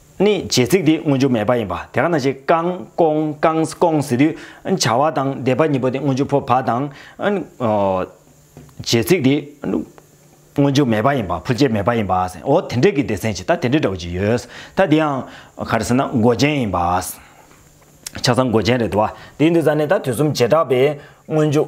ནི་རྗེས་ཚིག་དེ་མངོན་རྒྱུ་མེད་པ་ཡིན་པ་དེ་ག་ན་བྱེད་ཀང་ཀོང་ཀང་ཀོང་ཟེར་དུས་བྱ་བ་དང་བཟླས་པ་གཉིས་པོ་དེ་མངོན་རྒྱུ་ཕོ་བ་དང། རྗེས་ཚིག་དེ་མངོན་རྒྱུ་མེད་པ་ཡིན་པ་ཕོ་སྐྱེས་མེད་པ་ཡིན་པ་འོ་དེ་འདྲས་ཀྱི་སྡེ་ཚན་ཅིག་ད་དེ་འདྲས་འདྲ་བོ་ཅིག་ཡོད། ད་དེ་ཡང་ག་རེ་ཟེར་ན་མགོ་ཅན་ཡིན་པ། ཆ་ཚང་མགོ་ཅན་རེད་དོ། དེའི་འདུས་ས་ནི་ད་དུས་གསུམ་བྱེ་བྲག་པའི་མངོན་རྒྱུ།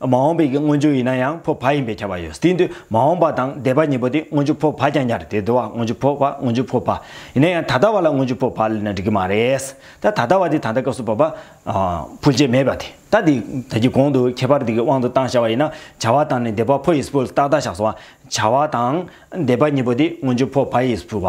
མ་འོངས་པའི་གི་སྔོན་འཇུག་ཡིན་ན་ཡང་འཕོ་བ་ཡིན་པའི་ཁྱབ་པ་ཡོད་དེ་འདུས་མ་འོངས་པ་དང་འདས་པ་གཉིས་པོ་དེ་སྔོན་འཇུག་འཕོ་བ་ཀྱང་ཉར་དེ་བསྡུ་བ་སྔོན་འཇུག་འཕོ་བ་སྔོན་འཇུག་འཕོ་བ། ཡིན་ན་ཡང་ད་ལྟ་བ་ལ་སྔོན་འཇུག་འཕོ་བ་ལས་ན་འགྲིག་གི་མ་རེད། ད་ད་ལྟ་བ་དེ་ད་ལྟ་སྐབས་སུ་བབ་པ། འཕོ་བྱེད་མེད་པ་དེ་ད་དེ་ད་ཀྱི་གོང་དུ་ཁྱད་པར་དེ་གི་དབང་དུ་བཏང་བྱ་བ་ཡིན་ན་བྱ་བ་དང་ནི་འདས་པ་འཕོ་ཡིས་འཕོ་ཏག་ཏག་བཞག་སོང་བ། བྱ་བ་དང་འདས་པ་གཉིས་པོ་དེ་སྔོན་འཇུག་འཕོ་བ་ཡིས་འཕོ་བ།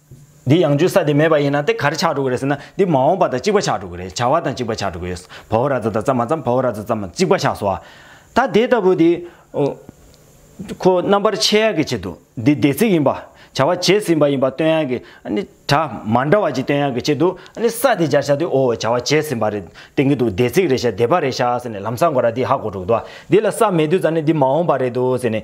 འདི་ཡང་འཇུ་ས་དེ་མེད་པ་ཡིན་ན་དེ་ག་རེ་ཆགས་འགྲོ་གི་རེད་ཟེར་ན་འདི་མ་འོངས་པ་དང་གཅིག་པ་ཆགས་འགྲོ་གི་རེད་བྱ་བ་དང་གཅིག་པ་ཆགས་འགྲོ་གི་ཡོད། བའོ་ར་ཛ་དང་ཙམ་མ་ཙམ་བའོ་ར་ཛ་ཙམ་མ་གཅིག་པ་ཆགས་སོ། ད་དེ་ལྟ་བུ་འདི། ཁོ་རྣམ་པར་ཕྱེ་ཡག་གི་ཆེད་དུ་འདི་སྡེ་ཚིག་ཡིན་པ། བྱ་བ་བྱས་ཟིན་པ་ཡིན་པ་སྟོན་ཡག་གི་དྲ་མ་འདྲ་བ་ཅིག་སྟོན་ཡག་གི་ཆེད་དུ་ས་དེ་སྦྱར་བྱ་དེ་འོ་བྱ་བ་བྱས་ཟིན་པ་རེད་བསྟན་གི་འདུག་སྡེ་ཚིག་རེད་བྱ་སྡེ་པ་རེད་བྱ་ཟེར་ནས་ལམ་ས་འགོ་ར་འདི་ཧ་གོ་འགྲོ་གི་འདུག་བ་འདི་ལ་ས་མེད་དུས་ཙམ་ནས་འདི་མ་འོངས་པ་རེད་འདུག་ཟེར་ནས།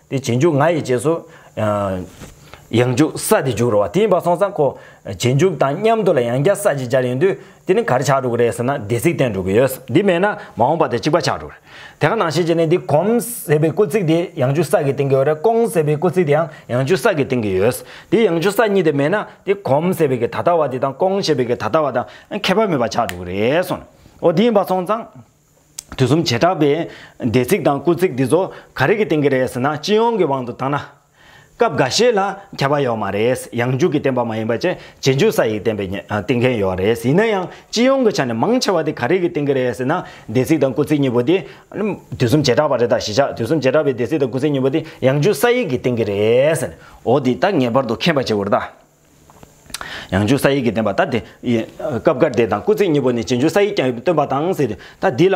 དེ་བྱེད་འཇུག་ང་ཡི་རྗེས་སུ། ཡང་འཇུག་ས་དེ་འཇུག་རོ་བ་དེ་ཡིན་པར་སོང་ཙང་གོ། བྱེད་འཇུག་དང་མཉམ་དུ་ལ་ཡང་བསྐྱར་ས་ཅིག་སྦྱར་ཡོང་དུས་དེ་ནི་གར་ཆགས་འགྲོ་གི་རེད་ཟེར་ན་སྡེ་ཚིག་བསྟན་འགྲོ་གི་ཡོད། འདི་མེད་ན་མ་འོངས་པ་དེ་གཅིག་པ་ཆགས་འགྲོ་གི་རེད། དེ་ག་ནང་བཤད་བྱས་ནས་འདི་གོམ། ཟེར་བའི་སྐུ་ཚིག་དེ་ཡང་འཇུག་ས་གིས་བསྟན་གི་ཡོད་རེད་ཀོང་ཟེར་བའི་སྐུ་ཚིག་དེའང་ཡང་འཇུག་ས་གིས་བསྟན་གི་ཡོད། དེ་ཡང་འཇུག་ས་གཉིས་དེ་མེད་ན་དེ་གོམ་ཟེར་བའི་གི་ད་ལྟ་བ་དེ་དང་ཀོང་ཞེས་པའི་གི་ད་ལྟ་བ་དང་ཁྱད་པར་མེད་པ་ཆགས་འགྲོ་གི་རེད་སོང། འོ་དེ་ཡིན་པར་སོང་ཙང། དུས་གསུམ་བྱེ་བྲག་པའི། འདས་ཚིག་དང་སྐུ་ཚིག་འདི་ཚོ་ག་རེ་གི་སྟེང་གི་རེད་ཟེར་ན་སྤྱི་ཡོངས་ཀྱི་དབང་དུ་བཏང་ན། སྐབས་འགའ་ཤས་ལ་ཁྱབ་པ་ཡོད་མ་རེད། ཡང་འཇུག་གི་བསྟན་པ་མ་ཡིན་པ་བཅས་རྗེས་འཇུག་ས་ཡིག་བསྟན་པའི་བསྟན་མཁན་ཡོད་རེད། ཡིན་ན་ཡང་སྤྱི་ཡོངས་ཀྱི་ཆ་ནས་མང་ཆེ་བ་དེ་ག་རེ་གི་སྟེང་གི་རེད་ཟེར་ན། འདས་ཚིག་དང་སྐུ་ཚིག་གཉིས་པོ་དེ། དུས་གསུམ་བྱེ་བྲག་པ་རེད་ད་གཞི་ཆགས་དུས་གསུམ་བྱེ་བྲག་པའི་འདས་ཚིག་དང་སྐུ་ཚིག་གཉིས་པོ་དེ་ཡང་འཇུག་ས་ཡིག་གི་སྟེང་གི་རེད། འོ་དེ་ད་ངེས་པར་དུ་མཁྱེན་པ་བྱེད་དགོས་རེད་ད། ཡང་འཇུག་ས་ཡིག་གི་བདེན་པ་ལྟར་དེ། སྐབས་འགར་དེ་དང་སྐུ་ཚེགས་གཉིས་པོ་ནི་སྤྱིར་འཇུག་ས་ཡིག་ཀྱང་སྟོན་པ་དང་ཟེར། ད་འདི་ལ།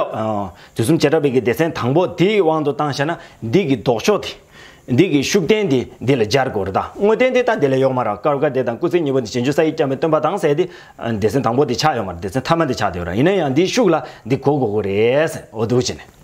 དུས་གསུམ་བྱེ་བྲག་པའི་གི་སྡེ་ཚན་དང་པོ་འདིའི་དབང་དུ་བཏང་ཞེ་ན། འདི་གི་ལྡོག་ཕྱོགས་དེ། འདི་གི་ཤུགས་བསྟན་དེ་འདི་ལ་སྦྱར་དགོས་རེད་ད། དངོས་བསྟན་དེ་ད་འདི་ལ་ཡོག་མ་ར་སྐབས་འགར་དེ་དང་སྐུ་ཚེགས་གཉིས་པོ་ནི་སྤྱིར་འཇུག་ས་ཡིག་ཀྱང་སྟོན་པ་དང་ཟེར་ཏེ། སྡེ་ཚན་དང་པོ་དེ་ཆགས་ཡོག་མ་ར་སྡེ་ཚན་ཐ་མ་དེ་ཆགས་དེ་ཡོག་ར་ཡིན་ན་ཡང་འདིའི་ཤུགས་ལ་འདི་གོ་དགོས་གོ་རེད། འོ་འདུག་བྱས་ནས།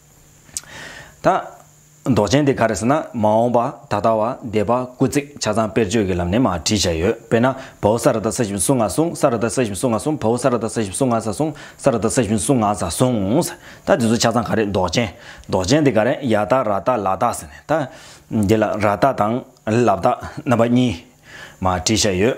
ད། མདོག་ཅན་དེ་ག་རེ་ཟེར་ན་མ་འོངས་པ་ད་ལྟ་བ་འདས་པ་སྐུ་ཚེགས་ཆ་ཚང་དཔེར་བརྗོད་ཀྱི་ལམ་ནས་མ་བྲིས་བྱས་ཡོད་དཔེར་ན་བོའུ་ས་ར་ད་ས་ཞིབ་སུ་ང་སུང་ས་ར་ད་ས་ཞིབ་སུ་ང་སུང་བོའུ་ས་ར་ད་ས་ཞིབ་སུ་ང་ས་སུང་ས་ར་ད་ས་ཞིབ་སུ་ང་ས་སུངས། ད་འདི་ཚོ་ཆ་ཚང་ག་རེ་མདོག་ཅན། མདོག་ཅན་དེ་ག་རེ་ཡ་ད་ར་ད་ལ་ད་ཟེར་ནས་ད། འདི་ལ་ར་ད་དང་ལ་ད་རྣམ་པ་གཉིས། མ་བྲིས་བྱས་ཡོད།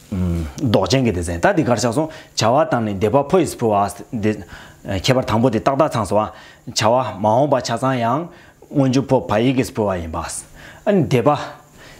མདོག་ཅན་གྱི་དེ་ཟན་ད་དེ་གར་ཆགས་སོང་བྱ་བ་དང་ནི་འདས་པ་ཕོ་ཡིས་ཕོ་བ་འདི། ཁྱད་པར་དང་པོ་དེ་ཏག་ཏག་ཚང་སོང་བ། བྱ་བ་མ་འོངས་པ་ཆ་ཚང་ཡང། སྔོན་འཇུག་ཕོ་བ་ཡིག་གིས་ཕོ་བ་ཡིན་པ། འདས་པ།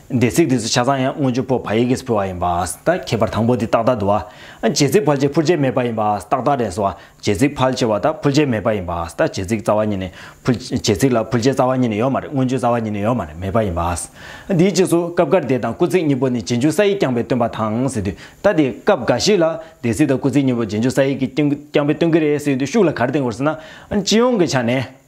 འདས་ཚིག་དེ་ཚོ་ཆ་ཚང་ཡང་སྔོན་འཇུག་ཕོ་བ་ཡིག་གིས་ཕོ་བ་ཡིན་པ། ད་ཁྱད་པར་དང་པོ་དེ་ཏག་ཏག་དུ་བ། རྗེས་ཚིག་བར་ཆད་ཕུར་ཆད་མེད་པ་ཡིན་པ་ཏག་ཏག་རེད་སོ། བྱེད་རྩིག་ཕལ་ཆེ་བ་དག་ཕུལ་བྱེད་མེད་པ་ཡིན་པ་ཨཱ། ད་བྱེད་རྩིག་རྩ་བ་ཉིད་ནི། བྱེད་རྩིག་ལ་ཕུལ་བྱེད་རྩ་བ་ཉིད་ནི་ཡོད་མ་རེད་མངོན་བརྗོད་རྩ་བ་ཉིད་ནི་ཡོད་མ་རེད་མེད་པ་ཡིན་པ་ཨཱ། དེའི་རྗེས་སུ་སྐབས་འགར་དེ་དང་སྐུ་ཚིག་གཉིས་པོ་ནི་རྗེས་འཇུག་ས་ཡིག་རྐྱང་པའི་སྟོན་པ་དང་ཟེར་དུས་ད་དེ་སྐབས་འགའ་ཞིག་ལ་དེ་ཚིག་དང་སྐུ་ཚིག་གཉིས་པོ་རྗེས་འཇུག་ས་ཡིག་གི་རྐྱང་པའི་སྟོན་གྱི་རེད་ཟེར་དུས་ཤུགས་ལ་གར་བསྟན་དགོས་ཟེར་ན། སྤྱི་ཡོངས་ཀྱི་ཆ་ནས།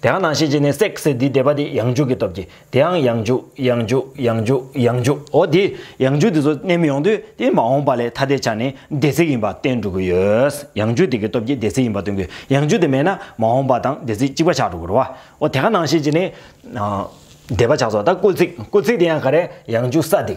དེའང་ནང་བཞིན་གྱིས་ནི་སྲེག་ཟེར་དེའི་བཟླས་པ་དེ་ཡང་འཇུག་གི་སྟོབས་ཀྱིས་དེའང་ཡང་འཇུག་ཡང་འཇུག་ཡང་འཇུག་ཡང་འཇུག་འོ་དེ་ཡང་འཇུག་དེ་ཚོ་གནས་མི་ཡོང་དུས་དེ་མ་འོངས་པ་ལས་ཐ་དད་ཆ་ནས་བདེ་གཟིགས་ཡིན་པ་བསྟན་འགྲོ་གི་ཡོད། ཡང་འཇུག་དེ་གི་སྟོབས་ཀྱིས་བདེ་གཟིགས་ཡིན་པ་སྟོན་དགོས་ཡང་འཇུག་དེ་མེད་ན་མ་འོངས་པ་དང་བདེ་གཟིགས་གཅིག་པ་ཆགས་འགྲོ་གི་རོ། འོ་དེའང་ནང་བཞིན་གྱིས་ནི། བཟླས་པ་ཆགས་སོ་ད་སྐུལ་ཚིག་སྐུལ་ཚིག་དེ་ཡང་ག་རེ་ཡང་འཇུག་ས་དེ་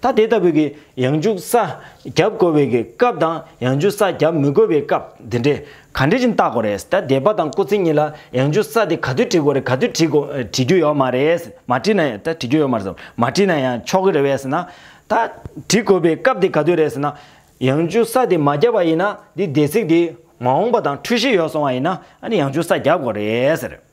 ད་དེ་ལྟ་བུ་གི་ཡང་འཇུག་ས་རྒྱབ་དགོས་བའི་གི་སྐབས་དང་ཡང་འཇུག་ས་རྒྱབ་མི་དགོས་བའི་སྐབས་དེ་འདྲས་ག་འདྲས་ཅིག་བརྟག་གོ་རེད་ད་དད་པ་དང་སྐུ་ཚེ་གཉིས་ལ་ཡང་འཇུག་ས་དེ་ག་དུས་བྲི་དགོས་རེད་ག་དུས་བྲི་དགོ་བྲི་རྒྱུ་ཡོག་མ་རེད་མ་བྲི་ན་ད་བྲི་རྒྱུ་ཡོག་མ་རེད་ཟེར་མ་བྲི་ན་ཡང་ཆོག་གི་རེད་བས་ཟེར་ན། ད་བྲི་དགོས་པའི་སྐབས་དེ་ག་དུས་རེད་ཟེར་ན། ཡང་འཇུག་ས་དེ་མ་རྒྱབ་པ་ཡིན་ན་འདི་སྡེ་ཚིག་འདི་མ་འོངས་པ་དང་འཁྲུལ་གཞི་ཡོག་སོང་བ་ཡིན་ན་ཨ་ནི་ཡང་འཇུག་ས་རྒྱབ་དགོ་རེད་ཟེར།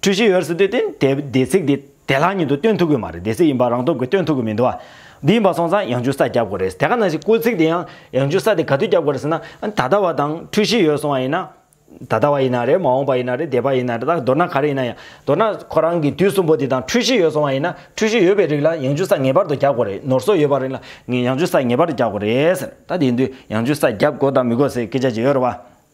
འཁྲུལ་གཞི་ཡོད་རེད་ཟེར་དུས་དེ་དེབ་དེ་ཚིག་དེ་དེ་ལག་ཉིད་དུ་སྟོན་ཐུབ་ཀྱི་མ་རེད་དེ་ཚིག་ཡིན་པ་རང་སྟོབས་ཀྱིས་སྟོན་ཐུབ་ཀྱི་མི་འདུག་འདི་ཡིན་པ་སོང་ཙང་ཡང་འཇུ་ས་རྒྱབ་དགོས་རེད་དེ་ག་ནང་བཞིན་སྐུལ་ཚིག་དེ་ཡང་ཡང་འཇུ་ས་དེ་ག་དུས་རྒྱབ་དགོས་རེད་ཟེར་ན་ད་ལྟ་བ་དང་འཁྲུལ་གཞི་ཡོད་སོང་བ་ཡིན་ན། ད་ལྟ་བ་ཡིན་ན་རེད་མ་འོངས་པ་ཡིན་ན་རེད་འདས་པ་ཡིན་ན་རེད་ད་མདོར་ན་ག་རེ་ཡིན་ན་ཡང་མདོར་ན་ཁོ་རང་གི་དུས་གསུམ་པོ་དེ་དང་འཁྲུལ་གཞི་ཡོད་སོང་བ་ཡིན་ན་འཁྲུལ་གཞི་ཡོད་པའི་རིགས་ལ་ཡང་འཇུ་ས་ངེས་པར་དུ་རྒྱབ་དགོས་རེད་ནོར་སོགས་ཡོད་པ་རིགས་ལ་ཡང་འཇུ་ས་ངེས་པར་དུ་རྒྱབ་དགོས་རེད་ཟེར་ད་དེ་ཡིན་དུས་ཡང་འཇུ་ས་རྒྱབ་དགོས་དང་མི་དགོས་ཟེར་སྐད་ཆ་ཅིག་ཡོད་རེད་བ།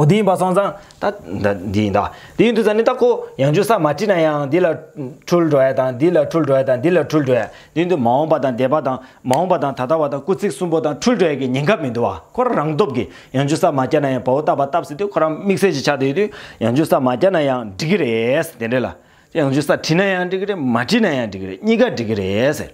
འོ་དེ་ཡིན་པ་སོང་ཙང་ད། འདི་ཡིན་ད། དེ་ཡིན་དུ་ཙང་ནི་ད་ཁོ་ཡང་ཅུང་ཟ་མ་བྲིས་ན་ཡང་འདི་ལ། འཁྲུལ་འགྲོ་ཡ་དང་འདི་ལ་འཁྲུལ་འགྲོ་ཡ་དང་འདི་ལ་འཁྲུལ་འགྲོ་ཡ། དེ་ཡིན་དུ་མ་འོངས་པ་དང་འདས་པ་དང་མ་འོངས་པ་དང་ད་ལྟ་བ་དང་སྐུ་ཚིགས་གསུམ་པོ་དང་འཁྲུལ་འགྲོ་ཡ་གི་ཉེན་ཁ་མི་འདུག་བ་ཁོ་རང་རང་སྟོབས་ཀྱིས་ཡང་ཅུང་ཟ་མ་བསྐྱལ་ན་ཡང་བ་འུ་བཏབ་བ་བཏབ་ཟེར་དུས་ཁོ་རང་དམིགས་བསལ་གྱི་ཆ་དེ་ཡོད་དུས་ཡང་ཅུང་ཟ་མ་བསྐྱལ་ན་ཡང་འགྲིག་གི་རེད་དེ་འདྲས་ལ། ཡང་ཅུང་ཟ་བྲིས་ན་ཡང་འགྲིག་གི་རེད་མ་བྲིས་ན་ཡང་འགྲིག་གི་རེད་གཉིས་ཀ་འགྲིག་གི་རེད་ཟེར།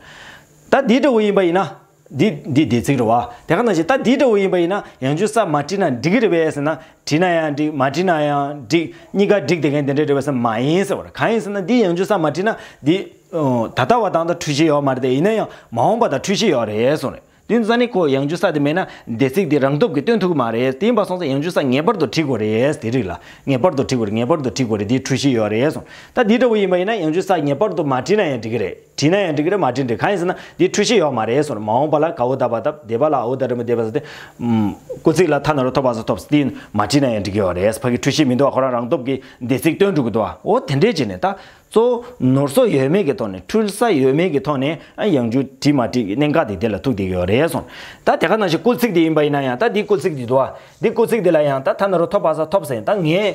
ད་འདི་ལྟ་བུ་ཡིན་པ་ཡིན་ན། འདི་འདི་བདེ་ཚིག་རེད་བ། དེ་ག་ནང་བཞིན་ད་འདི་འདྲ་བོ་ཡིན་པ་ཡིན་ན་ཡང་ཅུང་ཟ་མ་བྲིས་ན་འགྲིག་གི་རེད་བས་ཟེར་ན་བྲིས་ན་ཡང་འགྲིག་མ་བྲིས་ན་ཡང་འགྲིག་གཉིས་ཀ་འགྲིག་དེ་གན་དེ་འདྲ་རེད་བས་ཟེར་ན་མ་ཡིན་ཟེར་བ་རེད་གང་ཡིན་ཟེར་ན་འདི་ཡང་ཅུང་ཟ་མ་བྲིས་ན་འདི། ད་ལྟ་བ་དང་ད་འཁྲུལ་ཤེས་ཡོག་མ་རེད་དེ་ཡིན་ན་ཡང་མ་འོངས་པ་དང་འཁྲུལ་ཤེས་ཡོག་རེད་སོང་རེད་དེ་ནི་ས་ནི་ཁོ་ཡང་ཅུང་ཟ་དེ་མེད་ན་བདེ་ཚིག་དེ་རང་སྟོབས་ཀྱིས་སྟོན་ཐུབ་ཀྱི་མ་རེད་དེ་ཡིན་པ་སོང་ཙང་ཡང་ཅུང་ཟ་ངེས་པར་དུ་བྲིས་དགོས་རེད་དེ་རིགས་ལ་ངེས་པར་དུ་བྲིས་དགོས་རེད་ངེས་པར་དུ་བྲིས་དགོས་རེད་འདི་འཁྲུལ་ཤེས་ཡོག་རེད་སོང་ད་འདི་འདྲ་བོ་ཡིན་པ་ཡིན་ན་ཡང་ཅུང་ཟ་ངེས་པར་དུ་མ་བྲིས་ན་ཡང་འགྲིག་གི་རེད། བྲིས་ན་ཡང་འགྲིག་གི་རེད་མ་བྲིས་འགྲིག་གང་ཡིན་ཟེར་ན་འདི་འཁྲུལ་ཤེས་ཡོད་མ་རེད་ཟེར་མ་འོངས་པ་ལ་གའུ་བཏབ་པ་བཏབ་འདས་པ་ལ་འོ་བཏབ་རིན་པོ་བཏབ་ཟེར་ཏེ། སྐུ་ཚིག་ལ་ཐ་ན་རུ་ཐོབ་པ་ཟུར་ཐོབ་དེ་མ་བྲིས་ན་ཡང་འགྲིག་གི་ཡོད་རེད་ཕ་གི་འཁྲུལ་ཤེས་མི་འདུག་བ་ཁོ་རང་རང་སྟོབས་ཀྱིས་འདས་ཚིག་བཏོན་འགྲོ་གི་འདུག་བ་འོ་དེ་འདྲས་བྱས་ནས་ད་གཙོ་བོ་ནོར་སོ་ཡོད་མེད་ཀྱི་ཐོག་ནས་འཁྲུལ་ས་ཡོད་མེད་ཀྱི་ཐོག་ནས་ཡང་འཇུག་བྲིས་མ་བྲིས་ཀྱི་གནད་འགག་དེ་དེ་ལ་ཐུག་བསྡད་ཀྱི་ཡོད་རེད་ཟེར་ད་དེ་ག་ནང་བཞིན་སྐུ་ཚིག་དེ་ཡིན་པ་ཡིན་ན་ཡང་ད་འདི་སྐུ་ཚིག་འདི་འདུག་བ་འདི་སྐུ་ཚིག་འདི་ལ་ཡང་ད་ཐ་ན་རུ་ཐོབ་པ་ཟ་ཐོབ་ཟེར་ད་ངས་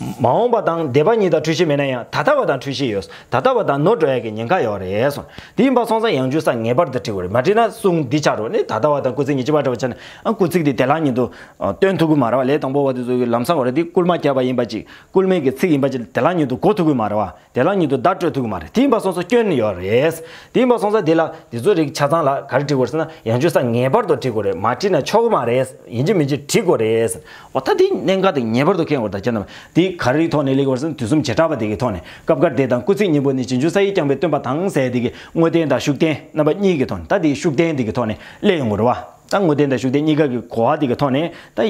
མ་འོངས་པ་དང་འདས་པ་གཉིས་དང་འཁྲུལ་ཤེས་མེད་ན་ཡང་ད་ལྟ་བ་དང་འཁྲུལ་ཤེས་ཡོད། ད་ལྟ་བ་དང་ནོར་འགྲོ་ཡག་གི་ཉེན་ཁ་ཡོད་རེད་གསུངས། དེ་ཡིན་པ་སོང་ཙང་ཡང་འཇུ་ས་ངེས་པར་དུ་བྲི་དགོས་རེད་མ་བྲིས་ན་གསུངས་འདི་བྱ་རོགས་ནི་ད་ལྟ་བ་དང་སྐུ་ཚེ་ཉི་ཅི་བ་འདྲ་བ་བྱས་ན་ཨང་སྐུ་ཚིག་འདི་དེ་ལག་ཉིད་དུ་སྟོན་ཐུབ་གི་མ་རེད་བ་ལས་དང་པོ་བ་དེ་ཚོ་གི་ལམ་སང་བ་རེད་འདི་བསྐུལ་མ་བརྒྱབ་པ་ཡིན་པ་ཅིག་སྐུལ་མེད་ཀྱི་ཚིག་ཡིན་པ་ཅིག་དེ་ལག་ཉིད་དུ་གོ་ཐུབ་གི་མ་རེད་བ། དེ་ལ་ཉིད་དུ་བརྡ་སྤྲོད་ཐུག་གི་མ་རེད་དེ་འབའ་སོང་ས་སྐྱོན་ཡོད་རེད། དེ་འབའ་སོང་ས་དེ་ལ་དེ་ཚོ་རིག་ཆ་ཚང་ལ་ག་རེ་བྲི་དགོས་རེད་ཟེར་ན་ཡང་བཅོས་ས་ངེས་པར་དུ་བྲི་དགོས་རེད་མ་བྲིས་ན་ཆོག་གི་མ་རེད་ཡིན་གྱི་མིན་གྱི་བྲི་དགོས་རེད་ཟེར། འོ་ད་དེ་གནད་འགག་དེ་ངེས་པར་དུ་ཁེལ་དགོས་རེད་ད་ཁྱེད་རྣམས་དེ་ག་རེའི་ཐོག་ནས་ལེགས་དགོས་རེད་ཟེར་ན་དུས་གསུམ་བྱེ་བྲག་པ་དེ་གི་ཐོག་ནས་སྐབས་འགར་དེ་དང་སྐུ་ཚེ་སྙིང་པོ་ནི་བྱེ་འཇུག་ས་ཡིས་རྐྱང་པའི་སྟོན་པ་དང་ཟས་དེ་གི་དངོས་བསྟན་དང་ཤུགས་བསྟན་རྣམ་པ་གཉིས་གི་ཐོག་ནས་ད་དེ་ཤུགས་བསྟན་དེ་གི་ཐོག་ནས་ལེགས་ཡོང་དགོས་རེད་བ་ད་དངོས་བསྟན་དང་ཤུགས་བསྟན་གཉིས་ཀ་གི་གོ་བ་དེ་གི་ཐོག་ནས་ད་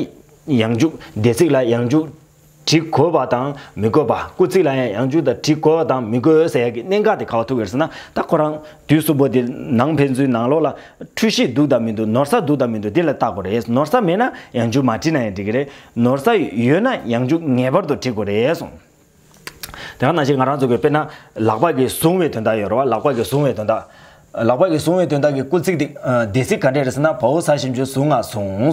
ཡང་འཇུག་སྡེ་ཚིག་ལ་ཡང་འཇུག། བྲི་དགོས་པ་དང་མི་དགོས་པ་སྐུ་ཚིགས་ལ་ཡང་ཡང་བཅུག་ད་བྲི་དགོས་དང་མི་དགོས་ཟེར་ཡག་གི་གནད་འགག་དེ་ག་བ་ཐུག་ཡོད་ཟེར་ན་ད་ཁོ་རང་དུས་གསུམ་པོ་དེ་ནང་ཕན་ཚུན་ནང་ལོག་ལ་འཁྲུལ་ཤེས་འདུག་དང་མི་འདུག་ནོར་ས་འདུག་དང་མི་འདུག་དེ་ལ་བལྟ་དགོས་རེད་ནོར་ས་མེད་ན་ཡང་བཅུག་མ་བྲིས་ན་ཡང་འགྲིག་གི་རེད་ནོར་ས་ཡོད་ན་ཡང་བཅུག་ངེས་པར་དུ་བྲི་དགོས་རེད་གསུངས། དེ་ག་ནང་བཞིན་ང་རང་ཚོ་གིས་དཔེར་ན་ལག་པ་གིས་བཟུང་བའི་དོན་དག་ཡོད་རེད་བ་ལག་པ་གིས་བཟུང་བའི་དོན་དག། ལག་པ་གིས་བཟུང་བའི་དོན་དག་གི་སྐུ་ཚིགས་དེ་སྡེ་ཚིག་ག་འདྲས་རེད་ཟེར་ན་བོའུ་ས་བཞིན་བཅུ་བཟུང་ང་བཟུང།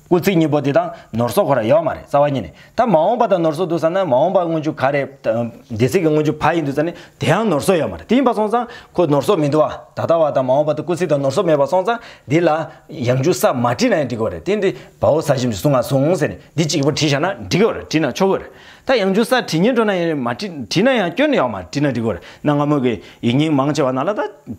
སྐུ་ཚིགས་གཉིས་པོ་དེ་དང་ནོར་སོགས་ཁོ་ན་ཡོད་མ་རེད་རྩ་བ་ཉིད་ནས་ད་མ་འོངས་པ་དང་ནོར་སོགས་འདུག་ས་ན་མ་འོངས་པ་དངོས་བྱུང་ག་རེད། སྡེ་ཚིག་གི་དངོས་བྱུང་བ་ཡིན་འདུག་ས་ནི་དེའང་ནོར་སོགས་ཡོད་མ་རེད་དེ་ཡིན་པ་སོང་ཙང་ཁོ་ནོར་སོགས་མི་འདུག་ཨ། ད་ལྟ་བ་དང་མ་འོངས་པ་དུ་སྐུ་ཚིགས་དང་ནོར་སོགས་མེད་པ་སོང་ཙང་འདི་ལ། ཡང་འཇུག་ས་མ་བྲིས་ན་ཡང་འགྲིག་གི་བ་རེད་དེ་འདི་བ་འོ་ས་ཞིམ་ཞིག་བཟུང་ང་བཟུང་ཟེར་ནས་འདི་གཅིག་གི་བ་བྲིས་བཞག་ན་འགྲིག་གི་བ་རེད་བྲིས་ན་ཆོག་གི་བ་རེད་ད་ཡང་འཇུག་ས་བྲིས་ཉེན་འགྲོ་ན་ཡང་རེད་མ་བྲིས་བྲིས་ན་ཡང་སྐྱོན་ཡོད་མ་རེད་བྲིས་ན་འགྲིག་གི་བ་རེད་གནའ་སྔ་མོ་གི་ཡིག་རྙིང་མང་ཆེ་བ་ན་ལ་ད།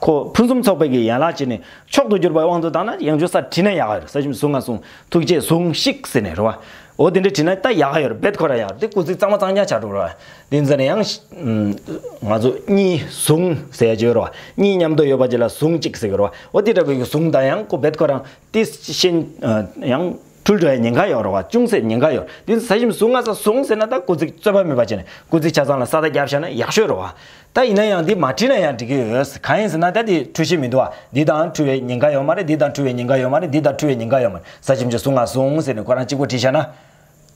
ཁོ་ཕུན་སུམ་ཚོགས་པའི་གྱི་ཡན་ལག་བྱས་ནས་མཆོག་ཏུ་གྱུར་པའི་དབང་དུ་བཏང་ན་ཡང་འཇུག་ས་བྲིས་ན་ཡག་ཡོད་ས་གཞི་ཟུང་ང་ཟུང་ཐུགས་རྗེས་ཟུངས་ཤིག་ཟེར་ནས་རེ་བ་འོ་དེ་འདྲ་བྲིས་ན་ལྟ་ཡག་ཡོད་རྦད་ཁོ་ར་ཡག་དེ་སྐུ་ཚིག་གཙང་མ་གཙང་རྐྱང་བྱ་འགྲོ་རེ་བ་དེ་ཟེར་ནས་ཡང། ང་ཚོ་གཉིས་ཟུང་ཟེར་བྱོས་རེ་བ་གཉིས་མཉམ་དུ་ཡོད་པ་བྱས་ལ་ཟུང་ཅིག་ཟེར་གྱི་རེ་བ་འོ་དེ་འདྲ་དགོས་གྱི་ཟུང་ད་ཡང་ཁོ་རྦད་ཁོ་རང་དེ་བཞིན་ཡང། འཁྲུལ་བྲལ་ཉེན་ཁ་ཡོད་རུང་བ་ཅུང་ཟད་ཉེན་ཁ་ཡོད་དུས་ཟ་ཞིམ་ཟུག་ང་ས་བཟུང་ཟེར་ན་ད་སྐུ་ཚིགས་རྩོད་པ་མེད་པ་བྱས་ནས་སྐུ་ཚིགས་ཆ་ཚང་ལ་ས་ད་རྒྱབ་བཞག་ན་ཡག་ཤོས་རུང་བ། ད་ཡིན་ན་ཡང་འདི་མ་བྲིས་ན་ཡང་འགྲིག་གི་ཡོད་གང་ཡིན་ཟེར་ན་ད་འདི་འཁྲུལ་ཤེས་མི་འདུག་བ་འདི་དང་འཁྲུལ་བའི་ཉེན་ཁ་ཡོད་མ་རེད་འདི་དང་འཁྲུལ་བའི་ཉེན་ཁ་ཡོད་མ་རེད་འདི་དང་འཁྲུལ་བའི་ཉེན་ཁ་ཡོད་མ་རེད་ཟ་ཞིམ་ཅིག་ཟུག་ང་བཟུང་ཟེར་ནས་ཁོ་རང་གཅིག་པོ་བྲིས་བཞག་ན།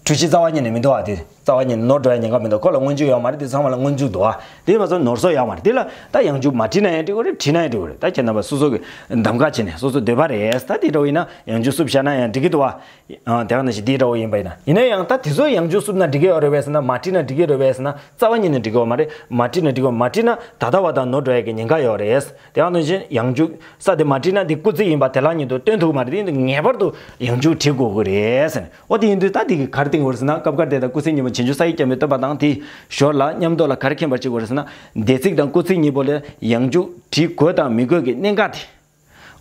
འཁྲུལ་ཤེས་རྩ་བ་ཉིད་ནས་མི་འདུག་བ་འདི། རྩ་བ་ནི་ནོར་འདྲ་བའི་ཉེན་ཁ་མི་འདུག་ཁོ་ལ་སྔོན་འཇུག་ཡོད་མ་རེད་དེ་ཚང་མ་ལ་སྔོན་འཇུག་འདུག་ཨ། དེ་མ་ཚོར་ནོར་སོགས་ཡག་མ་རེད་དེ་ལ་ད་ཡང་འཇུག་མ་བྲིས་ན་ཡང་འགྲིག་གོ་རེད་བྲིས་ན་ཡང་འགྲིག་གོ་རེད་ད་ཁྱེད་རྣམ་པ་སོ་སོ་གི་གདམ་ཁ་བྱས་ནས་སོ་སོ་འདོད་པ་རེད་ད་དེ་འདྲ་བོ་ཡིན་ན་ཡང་འཇུག་སུབ་བྱས་ན་ཡང་འགྲིག་གི་འདུག་ཨ། དེ་ག་ནང་བཞིན་དེ་འདྲ་བོ་ཡིན་པ་ཡིན་ན་ཡིན་ན་ཡང་ད་དེ་ཚོ་ཡང་འཇུག་སུབ་ན་འགྲིག་གི་ཡོད་རེད་བས་ས་ན་མ་བྲིས་ན་འགྲིག་གི་རེད་བས་ན་རྩ་བ་ཉིད་ནས་འགྲིག་གི་ཡོད་མ་རེད་མ་བྲིས་ན་འགྲིག་གི་ཡོད་མ་བྲིས་ན་ད་ལྟ་བ་དང་ནོར་འདྲ་བའི་གི་ཉེན་ཁ་ཡོད་རེད་དེ་ག་ནང་བཞིན་ཡང་འཇུག་ས་དེ་མ་བྲིས་ན་དེ་སྐུ་ཚིག་ཡིན་པ་དེ་ལག་ཉིད་དུ་སྟོན་ཐུག་མ་རེད་དེ་ངེས་པར་དུ་ཡང་འཇུག་བྲིས་དགོས་གི་རེད། ཨོ་དེ་ཡིན་དུས་ད་དེ་གི་གར་སྟེང་འོར་ཟིན་ན་སྐབས་འགར་དེ་དང་སྐུ་ཚེ་གཉིས་པོ་བྱེ་འཇུ་ས་ཡིག་བརྐྱང་བའི་བསྟོད་པ་དང་དེའི་ཞོར་ལ་ཉམས་རྟོགས་ལ་གར་མཁྱེན་པར་ཅིག་འོར་ཟིན་ན་སྡེ་ཚིག་དང་སྐུ་ཚེ་གཉིས་པོ་ལ་ཡང་འཇུག་བྲིས་དགོས་དང་མི་དགོས་ཀྱི་གནད་འགག་དེ།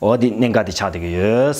ཨོ་དེ་གནད་འགག་དེ་ཆགས་སྡོད་ཀྱི་ཡོད།